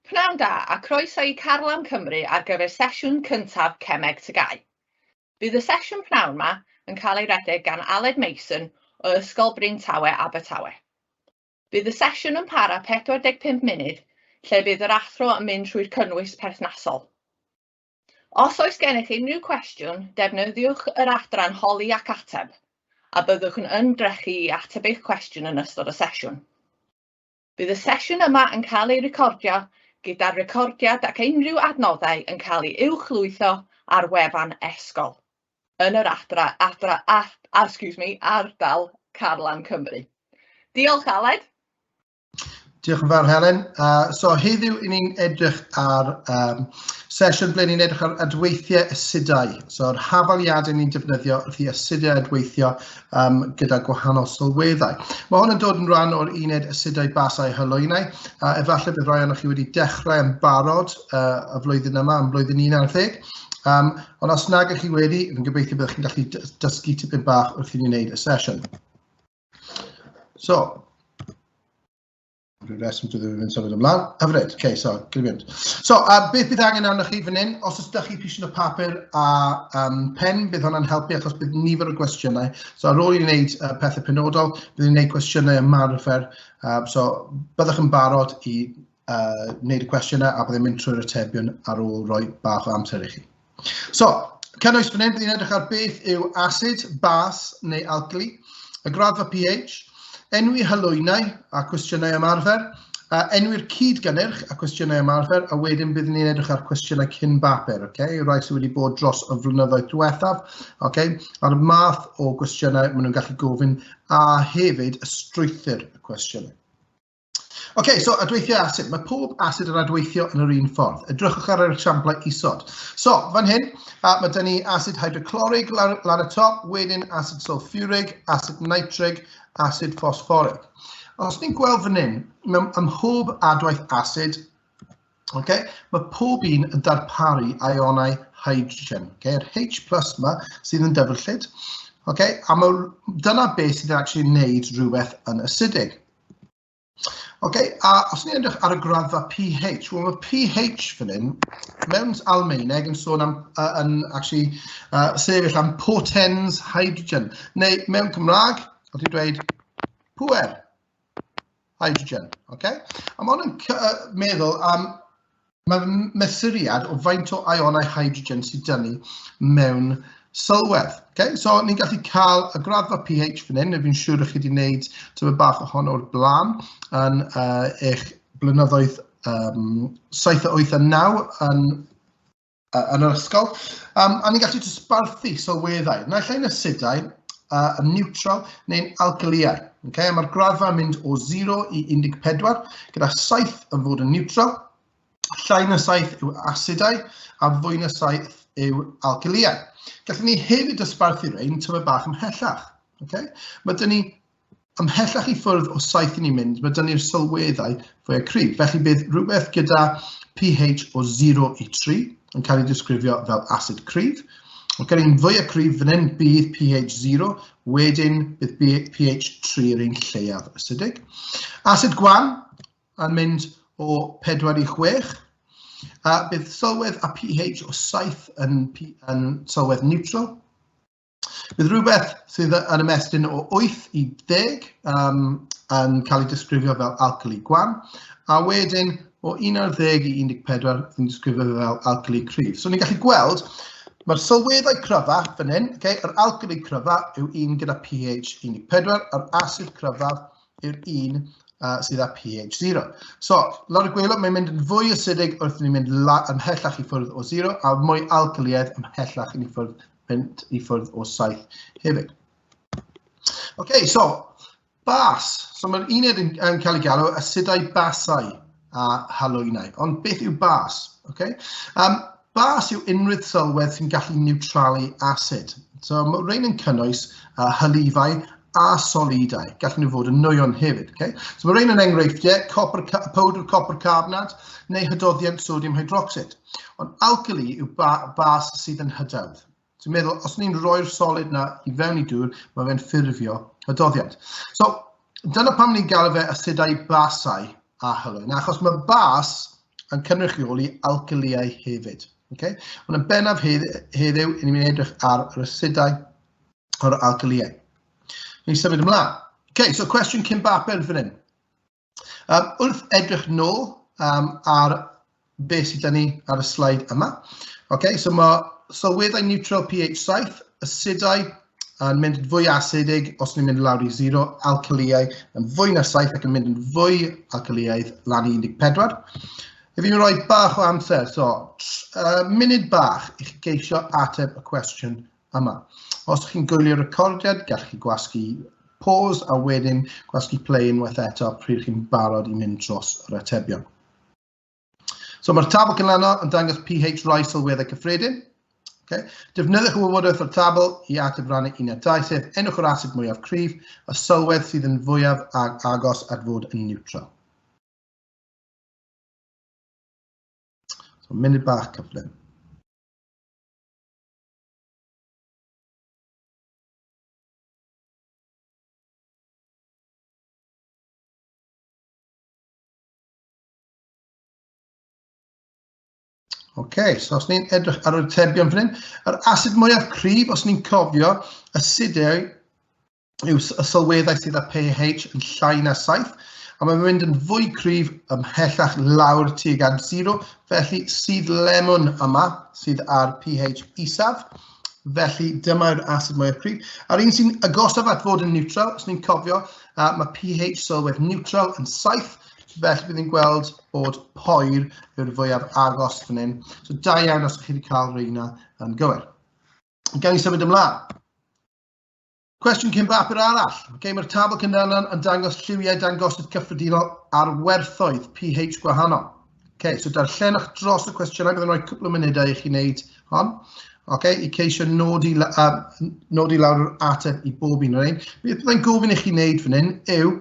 Pnawn da a croeso i Carlam Cymru ar gyfer sesiwn cyntaf Cemeg TGAU. Bydd y sesiwn pnawn 'ma yn cael ei redeg gan Aled Mason o Ysgol Bryn Tawe, Abertawe. Bydd y sesiwn yn para 45 munud lle bydd yr athro yn mynd trwy'r cynnwys perthnasol. Os oes gennych unrhyw cwestiwn, defnyddiwch yr adran Holi ac Ateb a byddwch yn ymdrechu i ateb eich cwestiwn yn ystod y sesiwn. Bydd y sesiwn yma yn cael ei recordio, gyda'r recordiad ac unrhyw adnoddau yn cael ei uwchlwytho ar wefan Esgol, yn yr adra, adra, a, a, excuse me, ardal Carlan Cymru. Diolch, Aled. Diolch yn fawr, Helen. Uh, so, heddiw i ni'n edrych ar um, sesiwn ble ni'n edrych ar adweithiau asudau. So, yr hafaliadau ni'n defnyddio wrth i asudau adweithio yym gyda gwahanol sylweddau. Mae hwn yn dod yn rhan o'r uned asedau basau a hylwynau, a efallai bydd rhai ohonoch chi wedi dechrau yn barod uh, y flwyddyn yma, yn blwyddyn 11. Um, ond os nag ych chi wedi, fi'n gobeithio byddwch chi'n gallu dysgu tipyn bach wrth i ni wneud y sesiwn. So, Rwy'n reswm dwi ddim yn symud ymlaen. Hyfryd, ok, so, gryfiant. So, a beth bydd angen arnoch chi fan hyn? Os ydych chi pisiwn o papur a um, pen, bydd hwnna'n helpu achos bydd nifer o gwestiynau. So, ar ôl i wneud uh, pethau penodol, bydd ni'n gwneud cwestiynau ymarfer. Um, so, byddwch yn barod i uh, wneud y cwestiynau a byddai'n mynd trwy'r atebion ar ôl rhoi bach o amser i chi. So, cynnwys fan hyn, bydd ni'n edrych ar beth yw asid, bas neu algli, y graddfa pH, enwi halwynau a cwestiynau ymarfer, a enwi'r cyd-gynnyrch a cwestiynau ymarfer, a wedyn bydd ni'n edrych ar cwestiynau cyn bapur, okay? rai sydd wedi bod dros y flynyddoedd diwethaf, okay? a'r math o gwestiynau maen nhw'n gallu gofyn, a hefyd y strwythyr y cwestiynau. OK, so adweithiau asid. Mae pob asid yn adweithio yn yr un ffordd. Edrychwch ar yr esiamplau isod. So, fan hyn, a, mae dyn ni asid hydroclorig lan, lan y top, wedyn asid sulfurig, asid nitrig, asid ffosfforig. Os ni'n gweld fan hyn, mewn ym mhob adwaith asid, okay, mae pob un yn darparu ionau hydrogen. Okay? Yr H plus yma sydd yn dyfrllyd. Okay? A mae, dyna beth sydd yn actually wneud rhywbeth yn acidig. Ok, a os ni'n edrych ar y graddfa PH, wel mae PH fan hyn, mewn Almaeneg yn sôn am, uh, yn actually, uh, sefyll am potens hydrogen, neu mewn Cymraeg, os ti'n dweud pwer hydrogen, ok? A mae hwn yn uh, meddwl am Mae'r mesuriad o faint o ionau hydrogen sydd dynnu mewn sylwedd. Okay? So, ni'n gallu cael y graddfa pH fan hyn, neu fi'n siŵr ych chi wedi gwneud tyfa bach ohono o'r blaen yn uh, eich blynyddoedd um, 7 a 8 a 9 yn, uh, yn yr ysgol. Um, a ni'n gallu dosbarthu sylweddau, naill ai'n asidau a yn niwtral neu'n alkyliau. Okay? Mae'r graddfa yn mynd o 0 i 14, gyda 7 yn fod yn niwtral, llai na 7 yw asidau a fwy na 7 yw alkyliau. Gallwn ni hefyd ysbarthu rhain tyfa bach ymhellach. Okay? Mae dyn ni Ymhellach i ffwrdd o saith i ni'n mynd, mae 'da ni'r sylweddau fwyaf cryf. Felly bydd rhywbeth gyda pH o 0 i 3 yn cael ei disgrifio fel asid cryf. Ond gen i'n fwyaf cryf fan hyn bydd pH 0, wedyn bydd pH 3 yr un lleiaf acidig. Asid gwan yn mynd o 4 i 6, a bydd sylwedd a pH o 7 yn, yn sylwedd neutral, Bydd rhywbeth sydd yn ymestyn o 8 i 10 um, yn cael ei disgrifio fel alcali gwan, a wedyn o 11 i 14 yn disgrifio fel alcali cryf. So ni'n gallu gweld, mae'r sylweddau cryfa fan hyn, okay, yr alcali cryfa yw un gyda pH 14, a'r asid cryfa yw'r un uh, sydd â pH 0. So, lawr y gwelw, mae'n mynd yn fwy acidig wrth ni'n mynd ymhellach i ffwrdd o 0, a mwy alcaliaidd ymhellach i ffwrdd mynd i ffwrdd o saith hefyd. OK, so, bas. So mae'r uned yn, yn cael ei galw asidau basau a halwynau. Ond beth yw bas? Okay? Um, bas yw unrhyw sylwedd sy'n gallu niwtralu asid. So mae rhain yn cynnwys uh, hylifau a solidau. Gallwn nhw fod yn nwyon hefyd. Okay? So mae rhain yn enghreifftiau, copr, powdr copr carbonat neu hydoddiant sodium hydroxid. Ond alcali yw ba, bas sydd yn hydawdd. So meddwl, os ni'n rhoi'r solid na i fewn i dŵr, mae fe'n ffurfio hydoddiant. So dyna pam ni'n galw fe asidau basau a hylwyn, achos mae bas yn cynrychioli alcaliau hefyd. Okay? Ond yn bennaf heddiw, hedd, ni'n mynd edrych ar yr asidau o'r alcoholiaid. Ni'n symud ymlaen. OK, so cwestiwn cyn bapur fan hyn. Um, wrth edrych nôl um, ar beth sydd gen ni ar y slide yma. OK, so mae sylweddau neutral pH 7, asidau yn mynd yn fwy asidig os ni'n mynd lawr i 0, alcoholiau yn fwy na 7 ac yn mynd yn fwy alcoholiaidd lan i 14. If fi'n rhoi bach o amser, so uh, munud bach i chi geisio ateb y cwestiwn Yma. Os chi'n gwylio recordiad, gall chi gwasgu pause a wedyn gwasgu play unwaith eto pryd chi'n barod i mynd dros yr atebion. So mae'r tabl canlano yn dangos pH rai sylweddau cyffredin. Okay. Defnyddiwch y wybodaeth o'r tabl i ateb rannu un a dau, sef enwch yr asid mwyaf cryf, y sylwedd sydd yn fwyaf ag agos at fod yn niwtral. So, munud bach cyflym. OK, so os ni'n edrych ar yr atebion fan hyn, yr asid mwyaf cryf, os ni'n cofio, asidau yw y sylweddau sydd â pH yn llai na 7, a mae'n mynd yn fwy cryf ymhellach lawr tuag at 0, felly sydd lemon yma sydd ar pH isaf, felly dyma'r asid mwyaf cryf. A'r un sy'n agosaf at fod yn neutral, os ni'n cofio, uh, mae pH sylwedd neutral yn 7, felly bydd ni'n gweld bod poer yw'r fwyaf agos fan hyn. So da iawn os ydych chi wedi cael reina yn gywir. Gawn ni symud ymlaen. Cwestiwn cyn bapur arall. Okay, Mae'r tabl cyndan yn dangos lliwiau dangosydd cyffredinol ar werthoedd pH gwahanol. Okay, so darllenwch dros y cwestiynau, byddwn rhoi cwpl o munudau i chi wneud hon. Okay, i ceisio nodi, uh, nodi lawr yr ateb i bob un o'r ein. Beth byddai'n gofyn i chi wneud fan hyn yw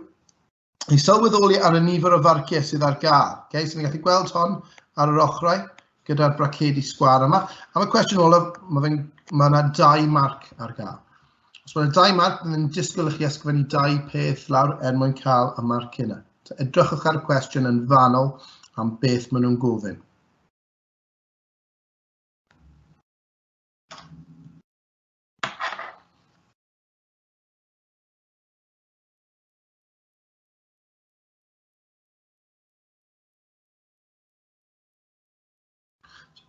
i sylweddoli ar y nifer o farciau sydd ar gael. Okay? So ni'n gallu gweld hon ar yr ochrau gyda'r bracedi sgwar yma. Am y cwestiwn olaf, mae yna ma yna dau marc ar gael. Os mae yna dau marc, byddwn ni'n disgwyl i chi ysgrifennu dau peth lawr er mwyn cael y marc yna. So edrychwch ar y cwestiwn yn fanol am beth maen nhw'n gofyn.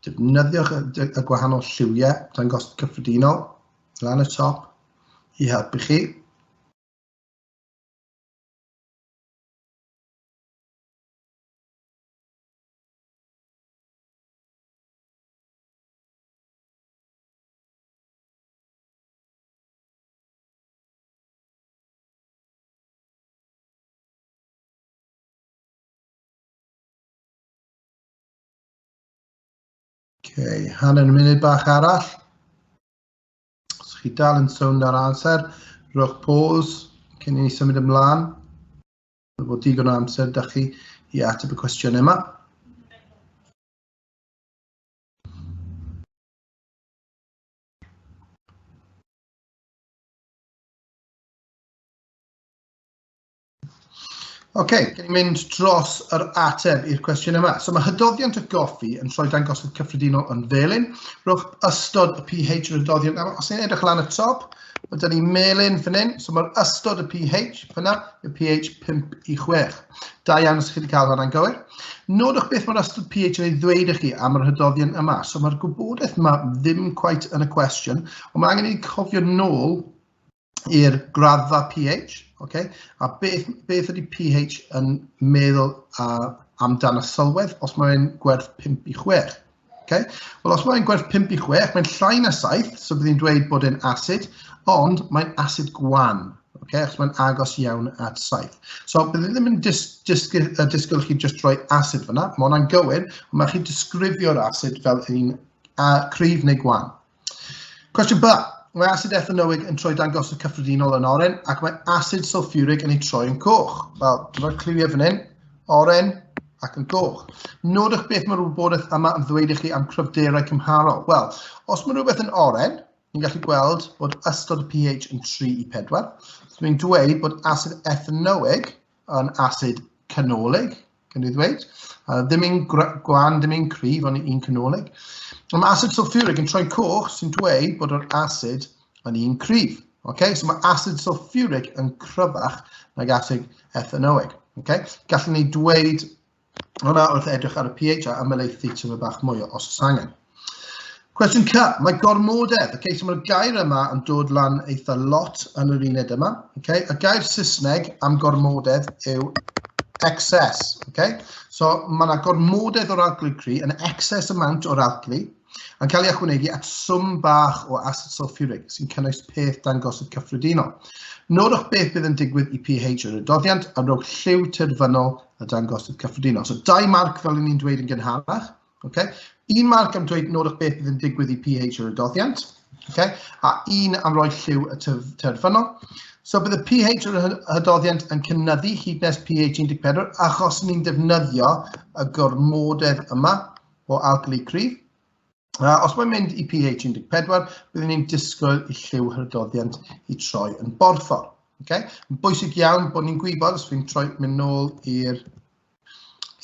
Defnyddiwch y gwahanol lliwiau dangos cyffredinol lan y top i helpu chi. Okay, hanner munud bach arall. Os chi dal yn sownd ar amser, rhowch pause cyn i ni symud ymlaen. Mae bod digon o amser da chi i ateb y cwestiwn yma. OK, gen i mynd dros yr ateb i'r cwestiwn yma. So mae hydoddiant y goffi yn troi dangosydd cyffredinol yn felyn. Rhowch ystod y pH yr hydoddiant. Os ni'n edrych lan y top, mae dyn ni melyn fan hyn. So mae'r ystod y pH fyna, y pH 5 i 6. Da iawn os chi wedi cael hwnna'n gywir. Nodwch beth mae'r ystod pH yn ei ddweud i chi am yr hydoddiant yma. So mae'r gwybodaeth yma ddim cweit yn y cwestiwn, ond mae angen i ni cofio nôl i'r graddfa pH, okay? a beth, beth ydy pH yn meddwl uh, amdano sylwedd os mae'n gwerth 5 i 6. Okay? Wel, os mae'n gwerth 5 i 6, mae'n llai na 7, so bydd hi'n dweud bod e'n acid, ond mae'n acid gwan, okay? achos mae'n agos iawn at 7. So, bydd hi ddim yn dis disgyl, uh, disgyl chi just rhoi acid fyna, mae hwnna'n gywir, ond mae chi disgrifio'r acid fel un uh, cryf neu gwan. Cwestiwn B. Mae asid ethanoig yn troi dangosod cyffredinol yn oren ac mae asid sulfuric yn ei troi yn coch. Wel, dyma'r cliwiau fan hyn, oren ac yn goch. Nodwch beth mae'r wybodaeth yma yn ddweud i chi am cryfderau cymharol. Wel, os mae rhywbeth yn oren, ni'n gallu gweld bod ystod y pH yn 3 i 4. So ni'n dweud bod asid ethanoig yn asid canolig, gan i ddweud. Uh, ddim un gwan, ddim un cryf, ond un canolig. Ond mae asid sulfuric yn troi'n coch sy'n dweud bod yr asid yn un cryf. Okay? So mae asid sulfuric yn cryfach nag asid ethanoig. Okay? Gallwn ni dweud Hwna wrth edrych ar y pH a ymelaethu tyfu bach mwy o os oes angen. Cwestiwn ca, mae gormodedd, okay, so mae'r gair yma yn dod lan eitha lot yn yr uned yma. Okay? Y gair Saesneg am gormodedd yw excess. Okay? So mae yna gormodedd o'r alglu cri, yn excess amount o'r alglu, Yn cael ei ychwanegu at swm bach o asid sulfuric sy'n cynnwys peth dangosydd cyffredinol. Nodwch beth bydd yn digwydd i pH yr adoddiant a rhowch lliw terfynol y dangosydd cyffredinol. So dau marc fel ni'n dweud yn gynharach. Okay? Un marc am dweud nodwch beth bydd yn digwydd i pH yr adoddiant. Okay? A un am roi lliw y terfynol. So bydd y pH yr hydoddiant yn cynnyddu hyd nes pH 14 achos ni'n defnyddio y gormodedd yma o alcali cryf. A os mae'n mynd i pH 14, byddwn ni'n disgwyl i lliw hydroddiant i troi yn borffor. Okay? Mae'n bwysig iawn bod ni'n gwybod, os fi'n troi mynd nôl i'r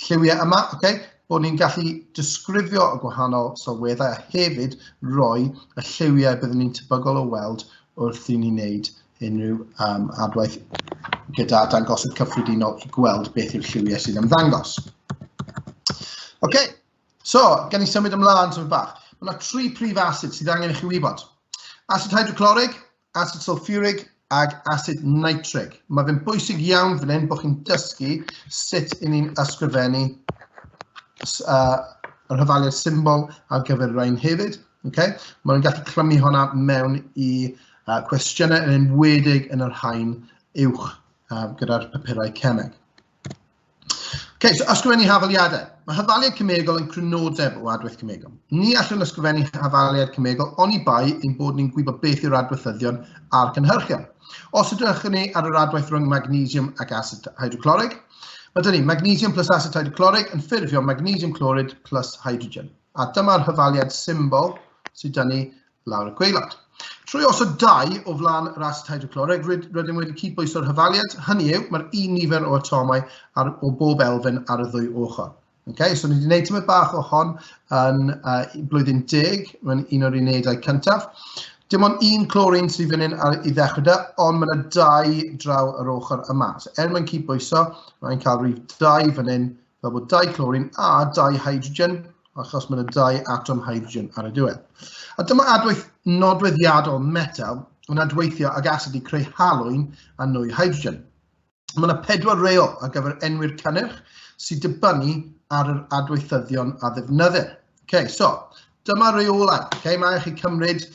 lliwiau yma, okay? bod ni'n gallu disgrifio y gwahanol sylweddau a hefyd roi y lliwiau byddwn ni'n tebygol o weld wrth i ni wneud unrhyw um, adwaith gyda dangosydd cyffredinol i gweld beth yw'r lliwiau sy'n ymddangos. Oce, okay. so, gan i symud ymlaen symud bach. Mae yna tri prif asid sydd angen i chi wybod. Asid hydroclorig, asid sulfurig ac asid nitrig. Mae fe'n bwysig iawn fan hyn bod chi'n dysgu sut i ni'n ysgrifennu uh, yr hyfaliad symbol ar gyfer rhain hefyd. Ok, maen nhw'n gallu clymu honna mewn i uh, cwestiynau yn enwedig yn yr hain uwch uh, gyda'r papurau cemeg. Ok, so ysgrifennu hafaliadau. Mae hafaliad cymegol yn crynodeb o adwaith cymegol. Ni allwn ysgrifennu hafaliad cymegol oni bai ein bod ni'n gwybod beth yw'r adweithyddion a'r cynhyrchion. Os ydych ni ar yr adwaith rhwng magnesium ac acid hydroclorig, mae dyn ni magnesium plus acid hydroclorig yn ffurfio magnesium clorid plus hydrogen. A dyma'r hyfaliad symbol sydd da ni lawr y gweilad. Trwy osod dau o flaen rast hydrocloreg, rydym wedi cydbwyso'r hyfaliad, hynny yw, mae'r un nifer o atomau ar, o bob elfen ar y ddwy ochr. Okay, so ni wedi gwneud tymor bach o hon yn uh, blwyddyn deg, mae'n un o'r unedau cyntaf. Dim ond un clorin sydd fan hyn i ddechrau da, ond mae'n dau draw yr ochr yma. So er mae'n cydbwyso, mae'n cael rhif dau fan hyn fel bod dau clorin a dau hydrogen, achos mae'n dau atom hydrogen ar y diwedd. A dyma adwaith nodweddiadol metal yn adweithio ag asid i creu halwyn a nwy hydrogen. Mae yna pedwar reol ar gyfer enwi'r cynnyrch sy'n dibynnu ar yr adweithyddion a ddefnyddir. Okay, so, dyma reolau. Okay, mae chi cymryd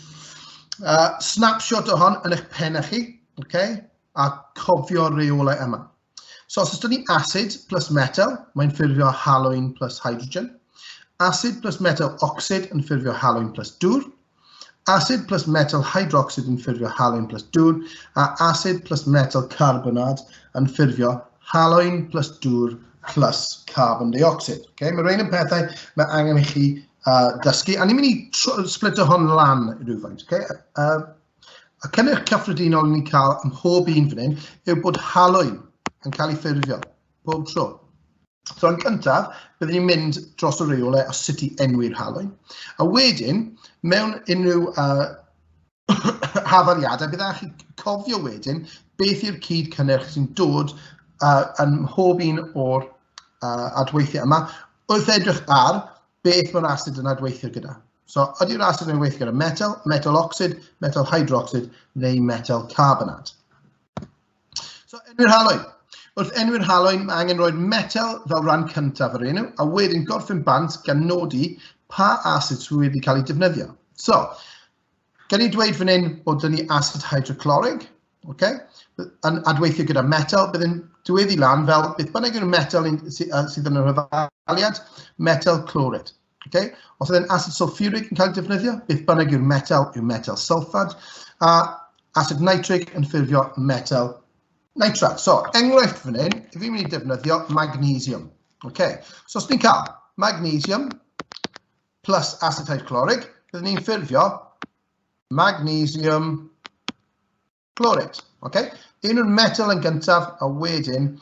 uh, snapshot o hon yn eich pen chi okay, a cofio reolau yma. So os ydyn ni acid plus metal, mae'n ffurfio halwyn plus hydrogen. Acid plus metal ocsid yn ffurfio halwyn plus dŵr. Acid plus metal hydrocsid yn ffurfio halwyn plus dŵr. A acid plus metal carbonad yn ffurfio halwyn plus dŵr plus carbon dioxid. Okay? Mae rhain yn pethau mae angen i chi uh, dysgu. A ni'n mynd i splitio hon lan rhywfaint. Okay? Uh, Y cynnyrch cyffredinol ni'n cael ym mhob un fan hyn yw bod halwyn yn cael ei ffurfio pob tro. So yn cyntaf, byddwn ni'n mynd dros y reolau o sut i enwi'r halwyn. A wedyn, mewn unrhyw uh, hafaliadau, byddwch chi cofio wedyn beth yw'r cyd cynnyrch sy'n dod uh, yn mhob un o'r uh, adweithiau yma. Wrth edrych ar beth mae'r asid yn adweithio gyda. So, ydy'r asid yn adweithio gyda metal, metal ocsid, metal hydrocsid neu metal carbonat. So, enwi'r haloen. Wrth enwi'r haloen, mae angen rhoi'r metal fel rhan cyntaf yr enw, a wedyn gorffen bant gan nodi pa asid sydd wedi cael ei defnyddio. So, Gen i dweud fan hyn bod dyn ni acid hydroclorig, okay? yn adweithio gyda metal, bydd yn diweddu lan fel beth bynnag yw'r metal sydd yn yr hyfaliad, metal clorid. Okay? Os ydy'n acid sulfuric yn cael ei defnyddio, beth bynnag yw'r metal yw'r metal sulfad, a acid nitric yn ffurfio metal nitrat. So, enghraifft fan hyn, i fi'n mynd i defnyddio magnesium. Okay. So, os ni'n cael magnesium, plus acetate chloride, byddwn ni'n ffurfio magnesium chlorate. Okay? Un o'r metal yn gyntaf, a wedyn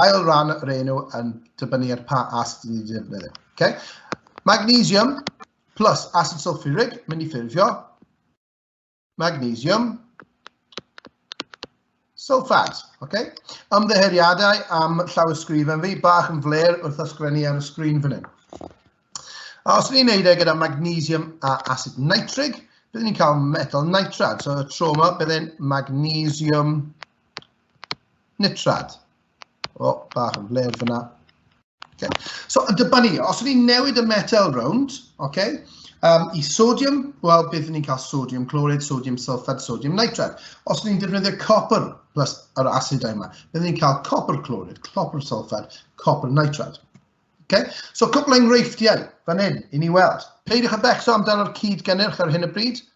ail ran yr enw yn dibynnu ar pa acid ni'n defnyddio. Okay? Magnesium plus acid sulfuric, mynd i ffurfio magnesium, sylffat. Okay? Ymddeheuriadau am llawysgrifen fi, bach yn fler wrth ysgrifennu ar y sgrin fan hyn. A os ni'n neud e gyda magnesium a acid nitrig, byddwn ni'n cael metal nitrad. So y tro yma byddai'n magnesium nitrad. O, bach yn fler fyna. Okay. So, y dyba ni, os ni'n newid y metal rownd, okay, um, i sodium, wel, bydd ni'n cael sodium clorid, sodium sulfate, sodium nitrate. Os ni'n defnyddio copper plus yr asidau yma, bydd ni'n cael copper clorid, copper sulfate, copper nitrate. Okay? So, cwpl enghreifftiau fan hyn i ni weld. Peidiwch â becso amdano'r cyd gynnyrch ar hyn y bryd,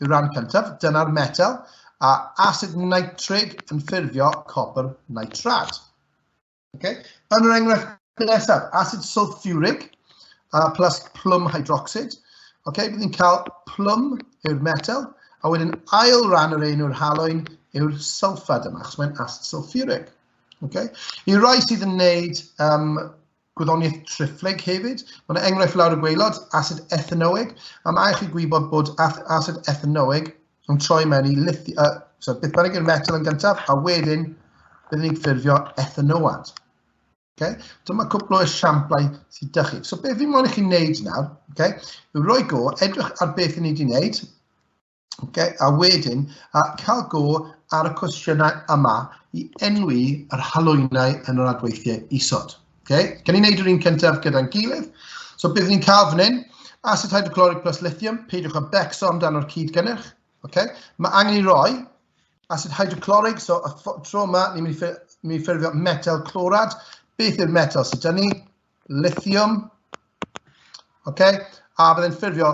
Yw'r rhan cyntaf, dyna'r metel, a asid nitrig yn ffurfio copr nitrad. Okay? Yn yr enghraifft nesaf, asid sulfuric uh, plus plwm hydrocsid. Okay? Bydd ni'n cael plwm yw'r metel, a wedyn ail ran yr ein yw'r haloen yw'r sulfad yma, achos mae'n asid sulfuric. Okay? I rai sydd yn wneud um, Gwyddoniaeth triphlyg hefyd. Mae yna enghraifft lawr y gweilod, asid ethanoeg, a mae chi gwybod bod asid ethanoeg yn troi mewn i lithi... Uh, so, beth bynnag yw'r metal yn gyntaf, a wedyn byddwn ni'n ffurfio ethanoad. Okay? Dyma cwpl o esiamplau sydd ydych chi. So, beth fi'n mwyn i chi'n neud nawr, okay? yw roi go, edrych ar beth i ni wedi wneud, Okay, a wedyn, a cael go ar y cwestiynau yma i enwi yr halwynau yn yr adweithiau isod. Okay? Gan ni'n neud yr un cyntaf gyda'n gilydd. So byddwn ni'n cael fan hyn, acid hydrochloric plus lithium, peidiwch â becso amdano'r cyd gynnyrch. Okay? Mae angen i roi acid hydrochloric, so y tro yma ni'n mynd i ffurfio metal clorad. Beth yw'r metal sydd dyn ni? lithium, okay? a byddai'n ffurfio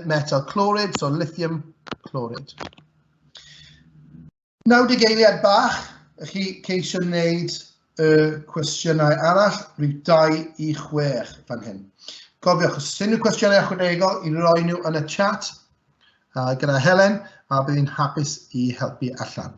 metal clorid, so lithium clorid. Nawr dy geiliad bach, ych chi ceisio wneud y cwestiynau arall, rhyw 2 i 6 fan hyn. Cofiwch, os unrhyw cwestiynau ychwanegol i roi nhw yn y chat uh, gyda Helen, a bydd hi'n hapus i helpu allan.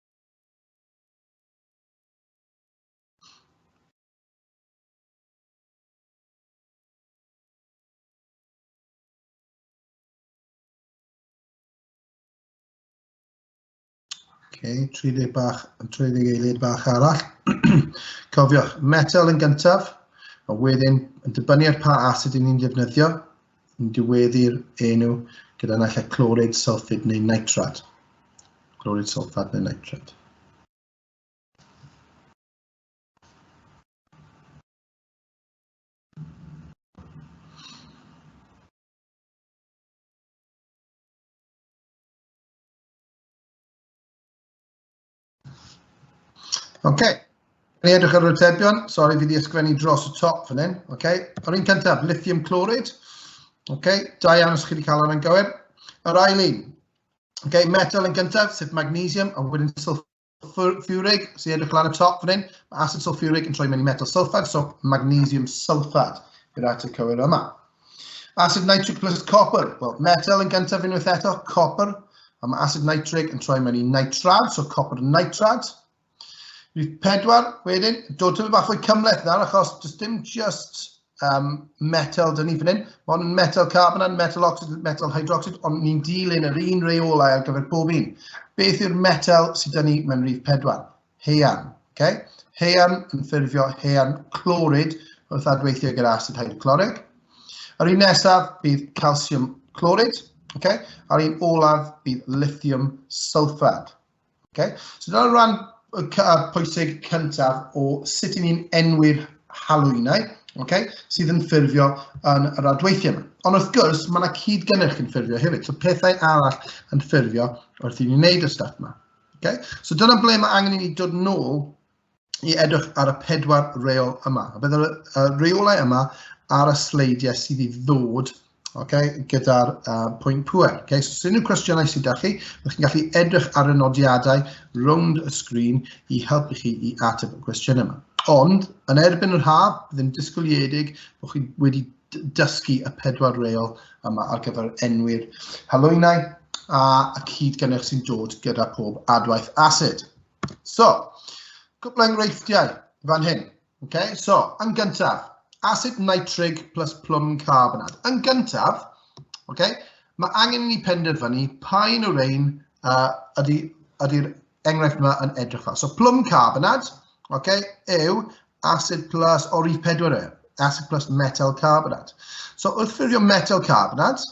Okay, 30 bach, 30 eiliad bach arall. Cofiwch, metel yn gyntaf, a wedyn yn dibynnu ar pa asid ni'n defnyddio, yn diweddu'r enw gyda naill ai clorid, sylffid neu nitrat. Clorid, sylffad neu nitrat. OK. Ni edrych ar yr atebion. Sori, fi wedi ysgrifennu dros y top fan hyn. OK. Yr un cyntaf, lithium chloride. OK. Da iawn os chi wedi cael hwnna'n gywir. Yr ail un. OK. Metal yn gyntaf, sef magnesium, a wedyn sulfuric, sy'n edrych lan y top fan hyn. Mae acid sulfuric yn troi mewn i metal sulfad, so magnesium sulfad yw'r ateb cywir yma. Acid nitric plus copper. Wel, metal yn gyntaf unwaith eto, copper. A mae acid nitric yn troi mewn i nitrad, so copper nitrad. Rhif pedwar, wedyn, dod tyfu bach fwy cymleth nawr, achos does dim just um, metal dyn ni fan hyn. Mae hwn yn metal carbonat, metal oxyd, metal hydroxyd, ond ni'n dilyn yr un reolau ar gyfer pob un. Beth yw'r metal sydd dyn ni mewn rhif pedwar? haearn. Okay? Haearn yn ffurfio haearn clorid wrth adweithio gyda asid hydroclorig. Yr un nesaf bydd calsiwm clorid, okay? a'r un olaf bydd lithium sulfad. Okay? So dyna'r rhan pwysig cyntaf o sut i ni'n enwi'r halwynau okay, sydd yn ffurfio yn yr adweithiau yma. Ond wrth gwrs, mae yna cyd-gynnyrch yn ffurfio hefyd, so pethau arall yn ffurfio wrth i ni'n wneud y stuff yma. Okay? So dyna ble mae angen i ni dod nôl i edrych ar y pedwar reol yma. A bydd y reolau yma ar y sleidiau sydd i ddod okay, gyda'r uh, pwynt pwer. Okay? So, sy'n unrhyw cwestiynau sydd da chi, ydych chi'n gallu edrych ar y nodiadau rownd y sgrin i helpu chi i ateb y cwestiwn yma. Ond, yn erbyn yr haf, ddim disgwyliedig bod chi wedi dysgu y pedwar reol yma ar gyfer enwi'r halwynau a y cyd gynnyrch sy'n dod gyda pob adwaith asid. So, cwpl enghreifftiau fan hyn. Okay? So, yn gyntaf, asid nitrig plus plwm carbonad. Yn gyntaf, okay, mae angen i ni penderfynu pa un o'r ein uh, ydy'r ydy enghraifft yma yn edrych fel. So plwm carbonad, okay, yw acid plus o'r rif pedwar e, acid plus metal carbonad. So wrth ffurfio metal carbonad,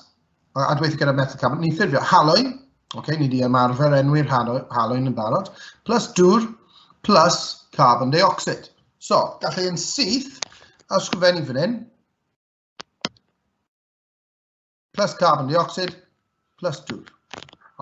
a dweithio gyda metal carbonad, ni'n ffurfio halwyn, okay, ni wedi ymarfer enwi'r halwyn yn barod, plus dŵr, plus carbon dioxide. So, gallai yn syth, a sgrifennu fan hyn, plus carbon dioxide, plus 2.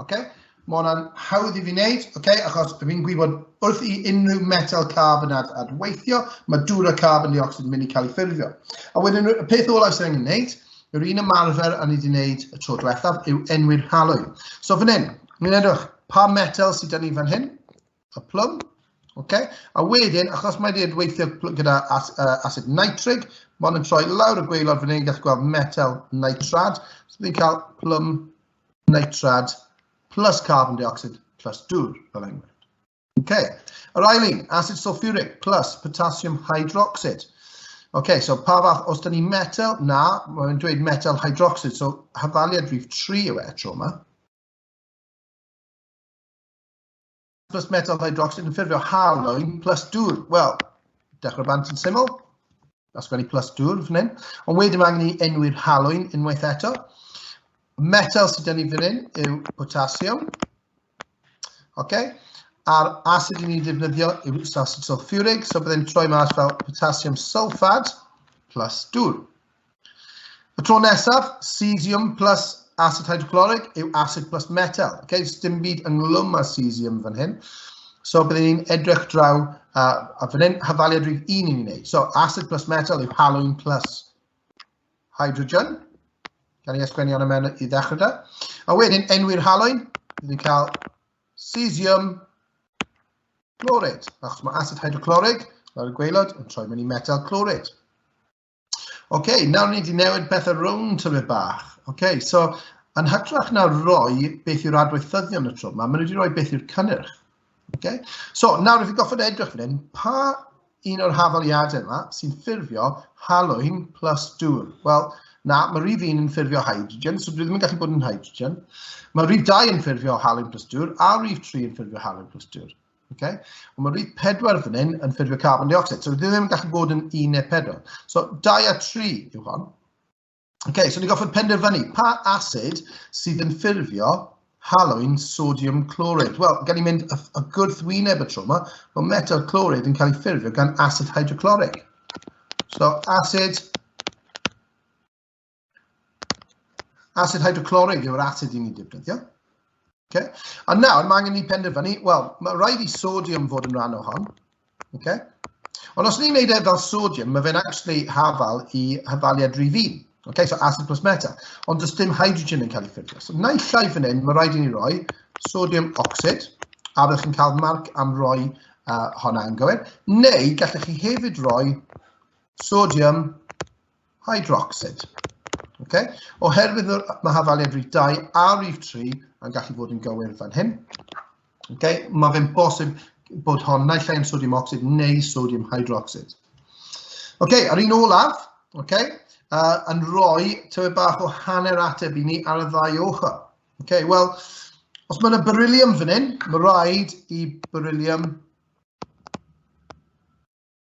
Okay? Mae hwnna'n hawdd i fi wneud, okay? achos fi'n gwybod wrth i unrhyw metal carbon ad adweithio, mae dŵr a carbon dioxid yn mynd i cael ei ffurfio. A wedyn y peth olau sy'n angen wneud, yr un ymarfer a ni wedi wneud y tro diwethaf yw enwi'r halwy. So fan hyn, ni'n edrych pa metal sydd gen ni fan hyn, y plwm. Okay. A wedyn, achos mae wedi weithio gyda as, uh, acid nitrig, mae hwn yn troi lawr y gweilod fan hyn, gallu gweld metal nitrad. So ni'n cael plwm nitrad plus carbon dioxide plus dŵr, fel enghraifft. Okay. Yr ail un, acid sulfuric plus potassium hydroxide. Okay, so pa fath, os da ni metal, na, mae'n dweud metal hydroxide, so hafaliad rhif 3 yw e tro yma. plus metal hydroxide yn ffurfio halwyn plus dŵr. Wel, dechrau bant yn syml, a sgwennu plus dŵr fan hyn. Ond wedyn mae angen i enwi'r halwyn unwaith eto. Metal sydd gen i fan hyn yw potassium. Okay. A'r acid ni'n defnyddio yw acid sulfuric, so byddai'n troi mas fel potassium sulfad plus dŵr. Y tro nesaf, cesium plus acid hydrochloric yw acid plus metal. Okay, so dim byd ynglwm â cesium fan hyn. So byddwn ni'n edrych draw, a, a fan hyn, hyfaliad rhif un i'n gwneud. So acid plus metal yw halwyn plus hydrogen. Gan i ysgwennu hwnna mewn i ddechrau da. A wedyn, enwi'r halwyn, bydd ni'n cael cesium chlorid, achos mae acid hydroclorig, fel y gweilod, yn troi mewn i metal chlorid. OK, nawr ni wedi newid pethau rownd tyfu bach. OK, so yn hytrach na roi beth yw'r adweithyddion y tro yma, maen nhw wedi rhoi beth yw'r cynnyrch. Okay? So, nawr ydych chi'n goffod edrych fan hyn, pa un o'r hafaliadau yma sy'n ffurfio halwyn plus dŵr? Wel, na, mae rhif un yn ffurfio hydrogen, so dwi ddim yn gallu bod yn hydrogen. Mae rhif 2 yn ffurfio halwyn plus dŵr, a rhif 3 yn ffurfio halwyn plus dŵr. Okay? Ond mae rhif 4 fan hyn yn ffurfio carbon dioxide, so dwi ddim yn gallu bod yn 1 neu 4. So 2 a 3 yw hon. Okay, so ni'n goffi penderfynu pa acid sydd yn ffurfio halwyn sodium chloride. Wel, gan i mynd y gwrthwyneb y tro yma, mae metal chloride yn cael ei ffurfio gan acid hydrochloric. So, acid Asid hydroclorig yw'r asid i ni defnyddio. Okay. A nawr, mae angen ni penderfynu, wel, mae rhaid i sodium fod yn rhan o hon. Okay. Ond os ni'n gwneud e fel sodium, mae fe'n actually hafal i hafaliad rif un. Okay, so acid plus meta. Ond does dim hydrogen yn cael ei ffurfio. So na i llai fan hyn, mae rhaid i ni roi sodium oxid, a byddwch chi'n cael marc am roi uh, honna yn gywir. Neu gallech chi hefyd roi sodium hydrocsid. Okay? Oherwydd mae hafaliad rif 2 a rif 3 yn gallu bod yn gywir fan hyn. Okay? Mae fe'n bosib bod hon naill ai yn sodium oxid neu sodium hydrocsid. Okay, ar un olaf, okay, uh, yn rhoi tywydd bach o hanner ateb i ni ar y ddau ochr. Okay, Wel, os mae'n y beryllium fan hyn, mae rhaid i beryllium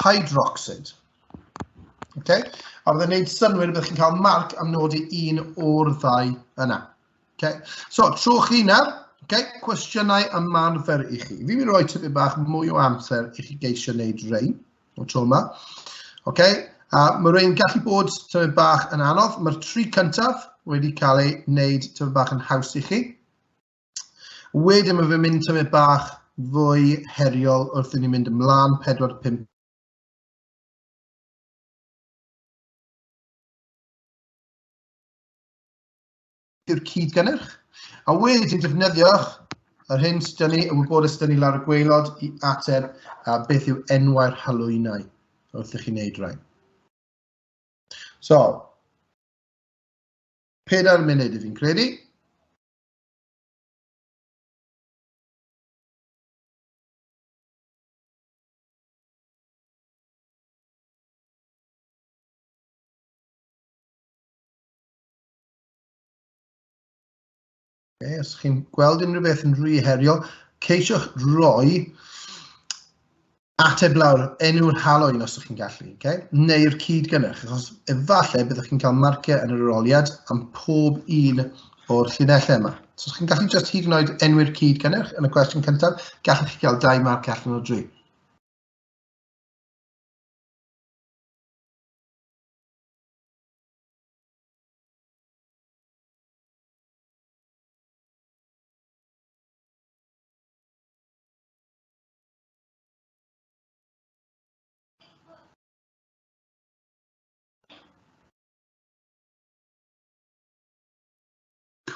hydrocsid. Okay? A byddai'n gwneud synwyr byddwch chi'n cael marc am nodi un o'r ddau yna. Okay? So, tro chi yna, okay, cwestiynau ymarfer i chi. Fi'n mynd i roi tyfu bach mwy o amser i chi geisio wneud rei o tro yma. Okay? A mae rhywun gallu bod tyfu bach yn anodd. Mae'r tri cyntaf wedi cael ei wneud tyfu bach yn haws i chi. Wedyn mae fe'n mynd tymed bach fwy heriol wrth i ni mynd ymlaen 4-5 yw'r cyd gynnyrch. A wedyn defnyddiwch yr hyn sydd ni, y wybodaeth sydd ni lawr y gweilod i ateb a beth yw enwau'r halwynau wrth i chi wneud rhain. So, pedair munud i fi'n credu. Okay, os chi'n gweld unrhyw beth yn rhy heriol, ceisiwch roi ateb lawr enw'r haloen os ydych chi'n gallu, okay? neu'r cyd-gynnyrch, achos efallai byddwch chi'n cael marciau yn yr aroliad am pob un o'r llinellau yma. So, chi'n gallu just hyd yn oed enw'r cyd-gynnyrch yn y cwestiwn cyntaf, gallwch chi gael dau marc allan o dri.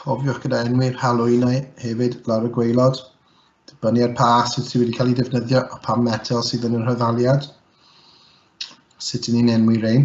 cofiwch gyda enwi'r halwynau hefyd lawr y gweilod, dibynnu ar pa asid sydd wedi cael ei defnyddio a pa metel sydd yn yr hyddaliad, sut yn ni'n enwi rein.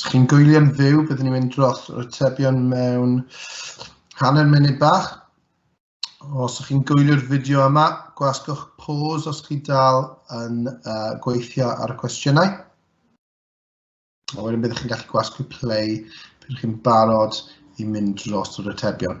Os chi'n gwylio'n fyw, byddwn ni'n mynd dros yr atebion mewn hanner munud bach. Os ydych chi'n gwylio'r fideo yma, gwasgwch pause os chi dal yn uh, gweithio ar y cwestiynau. A wedyn byddwch chi'n gallu gwasgu play byddwch chi'n barod i mynd dros yr atebion.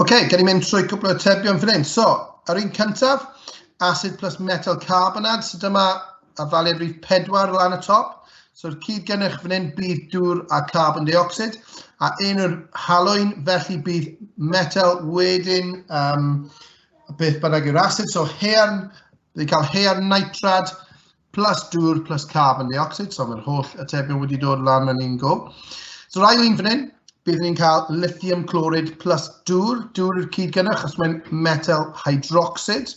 OK, gen i mynd trwy cwpl o atebion fan hyn. So, ar un cyntaf, acid plus metal carbonad, so dyma a ddaliad rhif 4 lan y top. So'r cyd gennych fan hyn bydd dŵr a carbon dioxid, a un o'r halwyn, felly bydd metal wedyn um, beth bynnag yw'r acid. So hearn, bydd cael hearn nitrad, plus dŵr plus carbon dioxide, so mae'r holl atebion wedi dod lan yn un go. So rai un fan hyn, bydd ni'n cael lithium chlorid plus dŵr, dŵr i'r cyd gynnwch, achos mae'n metal hydroxid.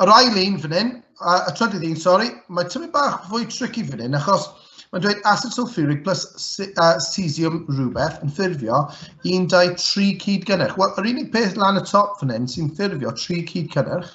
Yr ail un fan hyn, a, a trydydd un, sori, mae tyfu bach fwy tricky fan hyn, achos mae'n dweud acid sulfuric plus uh, cesium rhywbeth yn ffurfio 1, 2, 3 cyd gynnwch. Wel, yr unig peth lan y top fan hyn sy'n ffurfio 3 cyd cynnwch,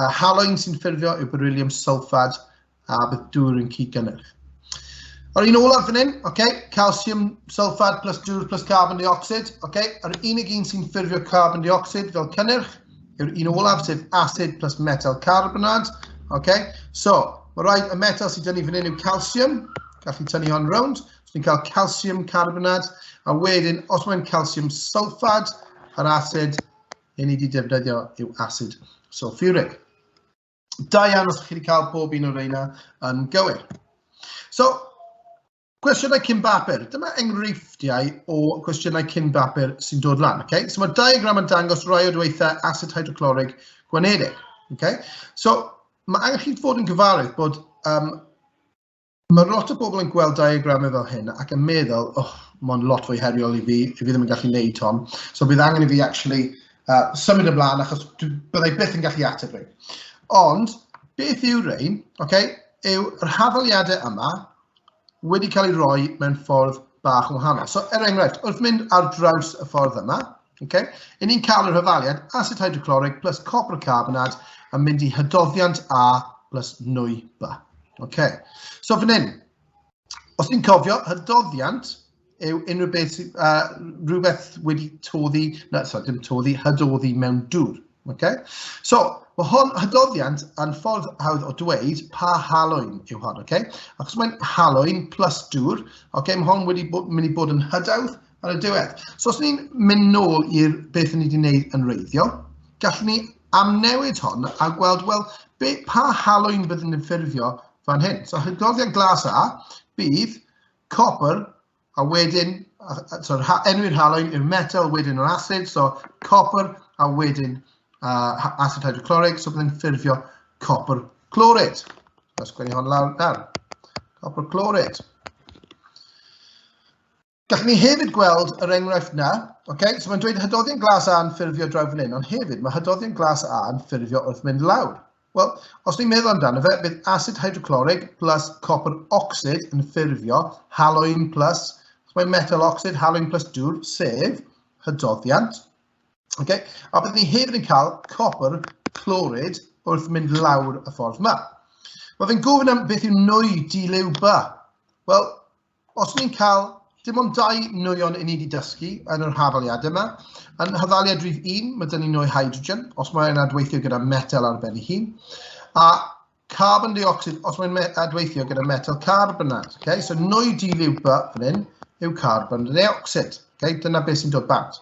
A haloin sy'n ffurfio yw beryllium sulfad a bydd dŵr yn cyd-gynnyrch. Yr un olaf fan hyn, okay, calcium sulfad plus dŵr plus carbon dioxid. Okay, yr unig un sy'n ffurfio carbon dioxid fel cynnyrch yw'r un olaf, sef acid plus metal carbonad. Okay, so, mae rhaid y metal sydd dynnu fan hyn yw calcium, gallu tynnu hon rownd. So ni'n cael calcium carbonad, a wedyn, os mae'n calcium sulfad, yr acid, i ni wedi defnyddio yw asid sulfuric. Da iawn os ydych chi wedi cael bob un o reina yn gywir. So, cwestiynau cyn bapur. Dyma enghreifftiau o cwestiynau cyn bapur sy'n dod lan. Okay? So mae diagram yn dangos rai o dweitha asid hydroclorig gwanedig. Okay? So mae angen chi fod yn gyfarwydd bod um, Mae lot o bobl yn gweld diagramau fel hyn ac yn meddwl, oh, mae'n lot fwy heriol i fi, i fi ddim yn gallu neud hon. So bydd angen i fi actually uh, symud ymlaen achos byddai byth yn gallu ateb rhain. Ond beth yw rhain? Okay, yw yr hafaliadau yma wedi cael ei roi mewn ffordd bach yn wahanol. So er enghraifft, wrth mynd ar draws y ffordd yma, Okay? I ni'n cael yr hyfaliad acid hydrochloric plus copr carbonad yn mynd i hydoddiant A plus nwy B. Okay. So fan hyn, os ni'n cofio, hydoddiant yw unrhyw beth sy'n uh, rhywbeth wedi toddi, na, sorry, dim toddi, hydoddi mewn dŵr. Okay? So, mae hon hydoddiant yn ffordd hawdd o dweud pa halwyn yw hon, okay? Achos mae'n halwyn plus dŵr, okay, mae hon wedi bod, mynd i bod yn hydawdd ar y diwedd. So os ni'n mynd nôl i'r beth ni wedi wneud yn reiddiol, gallwn ni amnewid hon a gweld, wel, be, pa halwyn byddwn ni'n ffurfio fan hyn. So hydroddiad glas A bydd copr a wedyn, so, enwi'r halwyn i'r metal, wedyn yr acid, so copr a wedyn uh, acid hydrochloric, so byddwn ni'n ffurfio copr clorid. Os gwneud hon lawr nawr. Copr clorid. Gallwn ni hefyd gweld yr enghraifft na. Okay? So mae'n dweud hydoddion glas A yn ffurfio draw fan hyn, ond hefyd mae hydoddion glas A yn ffurfio wrth mynd lawr. Wel, os ni'n meddwl amdano fe, bydd acid hydroclorig plus copr ocsid yn ffurfio haloin plus, os mae metal ocsid, haloin plus dŵr, sef hydoddiant. Okay? A bydd ni hefyd yn cael copr clorid wrth mynd lawr y ffordd yma. Mae fe'n gofyn am beth yw nwy di-liw ba. Wel, Os ni'n cael dim ond dau nwyon i ni wedi dysgu yn yr hafaliad yma, yn hafaliad rhif 1, mae dyn ni nwy hydrogen, os mae'n adweithio gyda metel ar ben ei hun, a carbon dioxid, os mae'n adweithio gyda metel carbonad. Okay? So nwy di liw by fan hyn yw carbon dioxid. Okay? Dyna beth sy'n dod bant.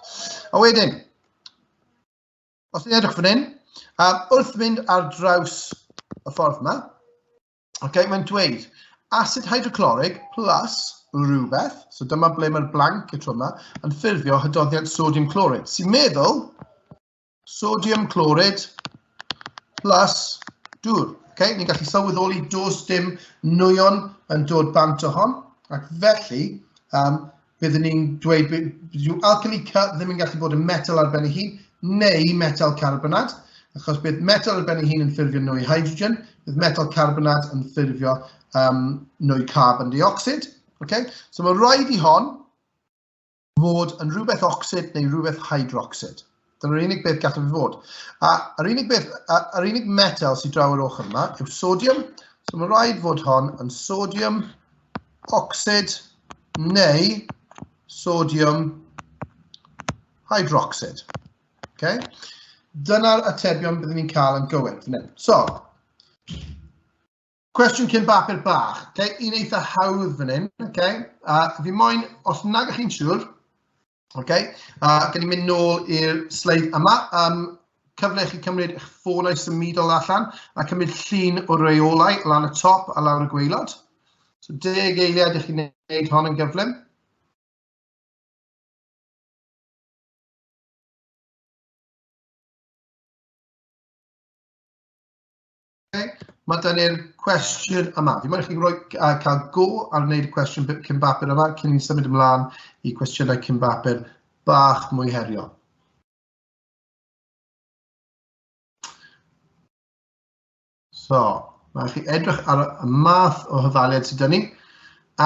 A wedyn, os ni'n edrych fan hyn, um, wrth mynd ar draws y ffordd yma, okay, mae'n dweud acid hydrochloric plus rhywbeth, so dyma ble mae'r blank y tro yma, yn ffurfio hydoddiant sodium clorid, sy'n meddwl sodium clorid plus dŵr. Okay? Ni'n gallu sylweddoli dos dim nwyon yn dod bant o hon, ac felly um, byddwn ni'n dweud bydd alchemy cut ddim yn gallu bod yn metal ar ben ei hun, neu metal carbonad, achos bydd metal ar ben ei hun yn ffurfio nwy hydrogen, bydd metal carbonad yn ffurfio um, nwy carbon dioxid. Okay? So mae rhaid i hon fod yn rhywbeth ocsid neu rhywbeth hydrocsid. Dyna'r unig beth gallaf fi fod. A yr unig beth, yr unig metal sydd draw yr ochr yma yw sodium. So mae rhaid fod hon yn sodium ocsid neu sodium hydroxid. Okay? Dyna'r atebion byddwn ni'n cael yn gywir. So, cwestiwn cyn bapur bach. Okay? Un eitha hawdd fan hyn. Okay? A fi moyn, os nag ych chi'n siŵr, OK, a uh, gen i mynd nôl i'r sleid yma. Um, cyfle chi cymryd eich ffônau symudol allan a cymryd llun o reolau lan y top a lawr y gweilod. So deg eiliad i chi wneud hon yn gyflym. Okay. Mae da ni'r cwestiwn yma. Fi moyn i chi roi, uh, cael go ar wneud y cwestiwn cyn bapur yma cyn ni'n symud ymlaen i cwestiynau cyn bapur bach mwy heriol. So, mae chi edrych ar y math o hyfaliad sydd dyn ni.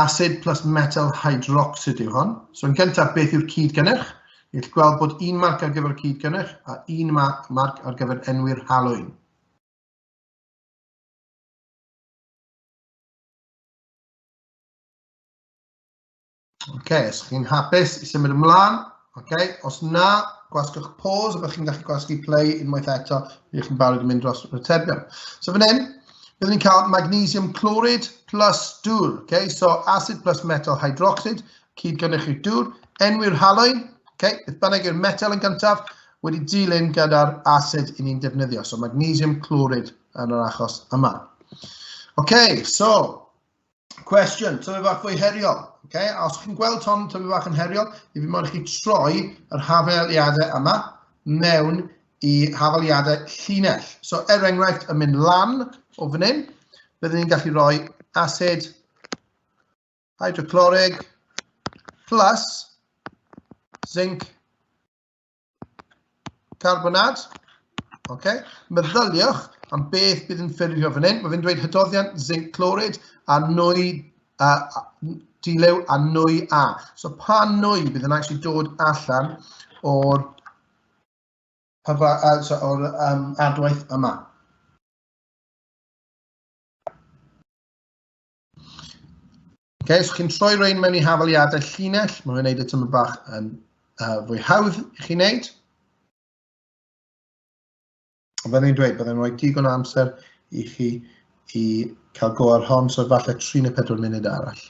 Acid plus metal hydroxid yw hon. So, yn gyntaf, beth yw'r cyd gynnyrch? Ni'n gweld bod un marc ar gyfer y cyd gynnyrch a un marc ar gyfer enwi'r halwyn. OK, os chi'n hapus i symud ymlaen, OK, os na, gwasgwch pause, byddwch chi'n gallu gwasgu play unwaith eto, byddwch chi'n barod i mynd dros y terbion. So fan hyn, byddwn ni'n cael magnesium chloryd plus dŵr, okay? so acid plus metal hydroxid, cyd gynnych i'r dŵr, enwi'r haloedd, okay? beth bynnag yw'r metal yn gyntaf, wedi dilyn gyda'r asid i ni'n defnyddio, so magnesium clwrid yn yr achos yma. OK, so, cwestiwn, tyfu bach fwy heriol. Okay? A os chi'n gweld hon tyfu bach yn heriol, i fi modd i chi troi yr hafeliadau yma mewn i hafeliadau llinell. So, er enghraifft, yn mynd lan o fan hyn, byddwn ni'n gallu rhoi asid hydroclorig plus zinc Carbonad. Okay. Meddyliwch am beth bydd yn ffurfio fan hyn. Mae fe'n dweud hydoddiant zinc clorid a nwy a, a, dilew a nwy a. So pa nwy bydd yn actually dod allan o'r uh, so, or, um, adwaith yma. Ok, so chi'n troi rhain mewn i hafaliadau llinell, mae'n gwneud y tymor bach yn uh, fwy hawdd i chi wneud. Ond fel ni'n dweud, byddai'n rhoi digon o amser i chi i cael go ar hon, so falle 3 neu 4 munud arall.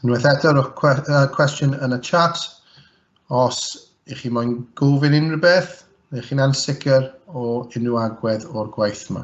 Unwaith eto, rhowch cwe uh, cwestiwn yn y chat os ych chi moyn gofyn unrhyw beth, neu chi'n ansicr o unrhyw agwedd o'r gwaith yma.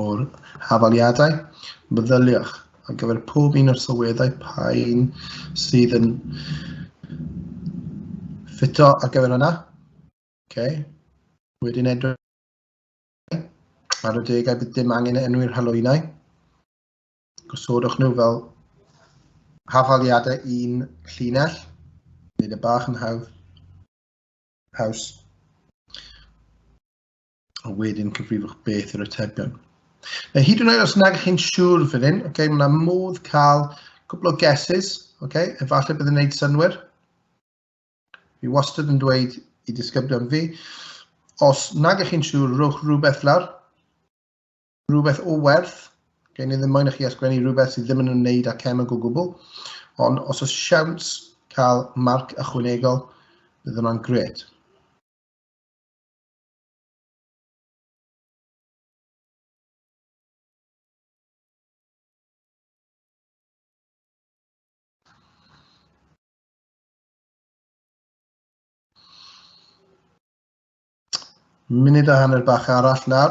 o'r hafaliadau. Meddyliwch ar gyfer pob un o'r sylweddau pa un sydd yn ffito ar gyfer hwnna. Okay. Wedyn edrych ar y degau bydd dim angen enwi'r halwynau. Gosodwch nhw fel hafaliadau un llinell. Nid y bach yn hawdd. Haws. a wedyn cyfrifwch beth yw'r atebion. Now, hyd yn oed os nag chi'n siŵr fan hyn, okay, mae yna modd cael cwbl o guesses, okay, efallai bydd yn gwneud synwyr. Fi wastad yn dweud i disgyblion fi, os nag chi'n siŵr, rhowch rhywbeth lawr, rhywbeth o werth, okay, ni ddim moyn i chi asgwennu rhywbeth sydd ddim yn ymwneud â cemeg o gwbl, ond os oes siawns cael marc ychwanegol, bydd yna'n gred. Munud a hanner bach arall nawr.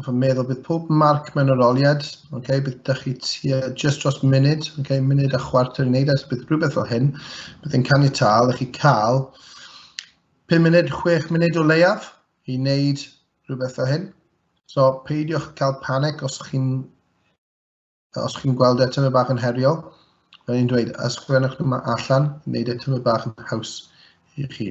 Hoff yn meddwl bydd pob marc mewn yr oliad, okay, bydd dych chi tua just dros munud, okay, munud a chwarter i wneud, e, so bydd rhywbeth fel hyn, bydd yn canu tal, ych chi cael 5 munud, 6 munud o leiaf i wneud rhywbeth fel hyn. So peidiwch cael panic os chi'n os chi'n gweld eto fe bach yn heriol. Fel i'n dweud, ysgrifennwch nhw allan, wneud eto fe bach yn haws i chi.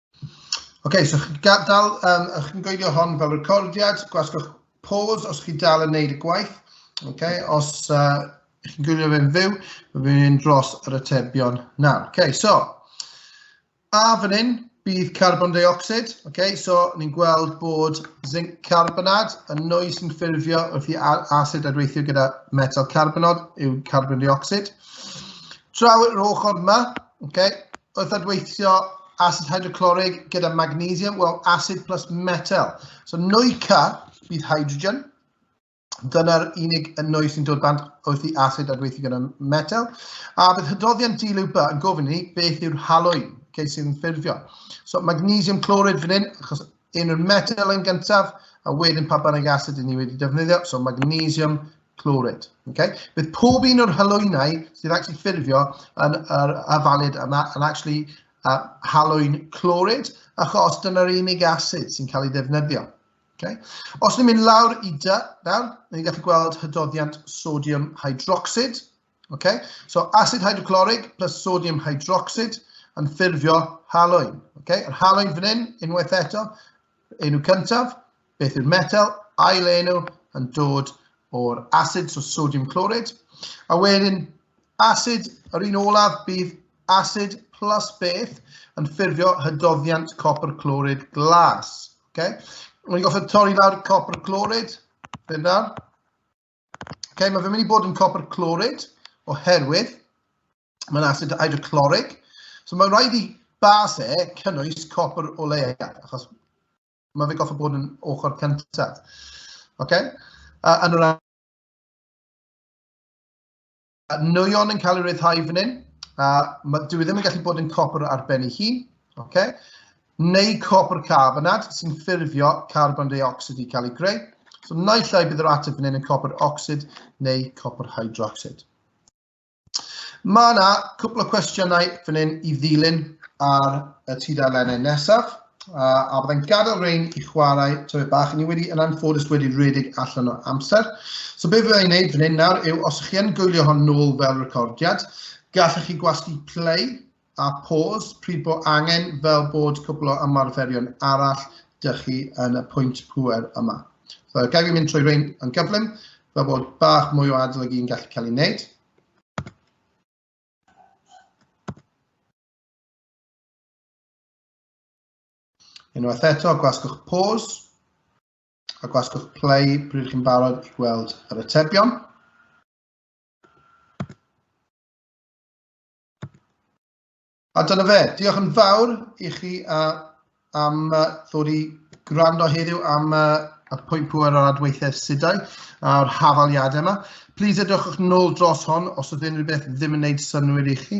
okay, so chi'n gadael, um, chi'n gweidio hon fel recordiad, gwasgwch pause os chi'n dal yn neud y gwaith. Okay, os uh, chi'n gwylio fe'n fyw, mae fe'n mynd dros yr atebion nawr. Okay, so, a fan hyn, bydd carbon dioxid. Okay, so, ni'n gweld bod zinc carbonad yn nwy sy'n ffurfio wrth i acid adweithio gyda metal carbonod yw carbon dioxid. Draw yr ochr yma, Okay. Wrth adweithio acid hydrochloric gyda magnesium, wel, acid plus metal. So nwy K bydd hydrogen. Dyna'r unig yn nwy sy'n dod bant wrth i acid adweithio gyda metal. A bydd hydroddiant dilw ba yn gofyn i ni beth yw'r halwyn okay, sydd yn ffurfio. So magnesium clorid fan hyn, achos un o'r metel yn gyntaf, a wedyn pa bynnag asid i ni wedi defnyddio, so magnesium chloryd. Okay? Bydd pob un o'r halwynau sydd actually ffurfio yn yr afalid yma yn actually uh, halwyn cloryd, achos dyna'r unig asid sy'n cael ei ddefnyddio. Okay? Os ni'n mynd lawr i dy, nawr, ni'n gallu gweld hydoddiant sodium hydroxid, Okay? So acid hydrochloric plus sodium hydroxide yn ffurfio haloen. Okay? Yr haloen fan hyn, unwaith eto, enw cyntaf, beth yw'r metal, ail enw yn dod o'r acid, so sodium chloride. A wedyn, acid, yr un olaf bydd acid plus beth yn ffurfio hydoddiant copr clorid glas. Okay? Rwy'n goffa torri lawr copr clorid, fe nawr. Okay, mae fe'n mynd i bod yn copr clorid oherwydd mae'n acid hydrochloric. So mae'n rhaid i bas e cynnwys copr o leiad, achos mae fe goffa bod yn ochr cyntaf. Okay? Uh, yn yr Nwyon yn cael ei ryddhau fan hyn, a ma, dwi e ddim yn gallu bod yn copr ar ben ei hun, okay? neu copr carbonad sy'n ffurfio carbon dioxid i cael ei greu. So naill ai bydd yr ateb fan hyn yn copr ocsid neu copr hydrocsid. Mae yna cwpl o cwestiynau fan hyn i ddilyn ar y tudalennau nesaf. A, a byddai'n gadael Rain i chwarae tyfu bach. Ni wedi yn anffodus wedi rhedeg allan o amser. So be fyddai'n gwneud fan hyn nawr yw, os chi yn gwylio hon nôl fel recordiad, gallech chi gwasgu play a pause pryd bod angen fel bod cwbl o ymarferion arall dych chi yn y pwynt pwer yma. So, gael fi mynd trwy rhain yn gyflym, fel bod bach mwy o adolygu yn gallu cael ei wneud. Unwaith eto, gwasgwch pause a gwasgwch play pryd chi'n barod i gweld yr atebion. A dyna fe. Diolch yn fawr i chi uh, am uh, ddod i gwrando heddiw am uh, y pwynt pwer o'r adweithiau sudau a'r hafaliadau yma. Please edrychwch nôl dros hon os oedd unrhyw beth ddim yn gwneud synnwyr i chi.